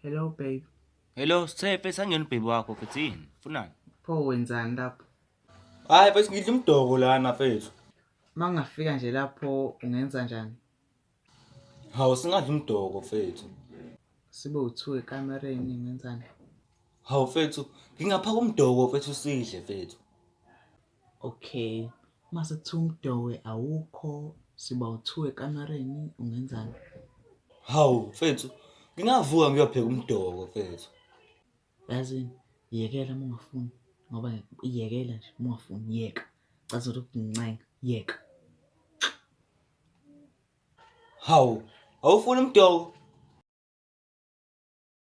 Hello babe. Hello Siphe, sangena ubhebi wakho futhi yini? Funani? Pho wenzani lapho? Hayi mfethu ngidla umdoko lana mfethu. Uma ngingafika nje lapho ungenza njani? Hawu singadla umdoko mfethu. Sibe uthiwe ekamereni ngenzani? Hawu mfethu ngingaphaka umdoko mfethu sidle mfethu. Okay mase kuthiwa umdowe awukho siba u-two ekamereni ungenzani? Hawu mfethu, ngingavuka ngiyopheka umdoko mfethu. Yazini yekela uma ungafuni ngoba yekela nje uma ungafuni yeka. Cathi ukuthi ukuncenga yeka. Hawu, awufuni umdoko?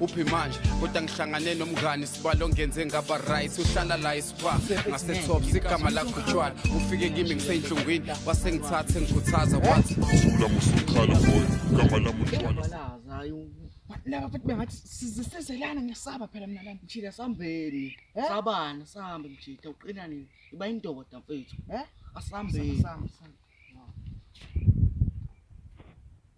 uphi manje kodwa ngihlangane nomngani sibalo ngenze ngaba right uhlala la isiba ngasetop sigama lakho tshwala ufike kimi ngiseyinhlungwini wasengithathe ngikhuthaza wathi thula musukhala boy igama lami utshwala laba futhi bengathi sizisezelana ngesaba phela mina lana mjida sambeni eh? sabana sambe mjida uqina nini iba indoda mfethu eh? asambeni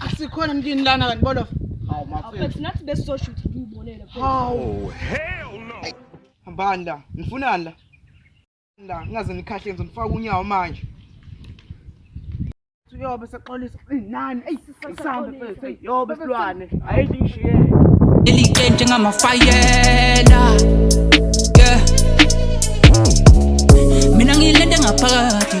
asikhona mntwini lana kanti bolo hawu mafethu nathi besizoshuthi ngiyibonele hawu oh, hell no hambani la nifunani la la ngaze nikhahle ngizo nifaka unyawo manje uyobe sexolisa nani eyi sisambe mfethu yobe silwane hayi ngishiye leli qe njengamafayela yeah mina ngilende ngaphakathi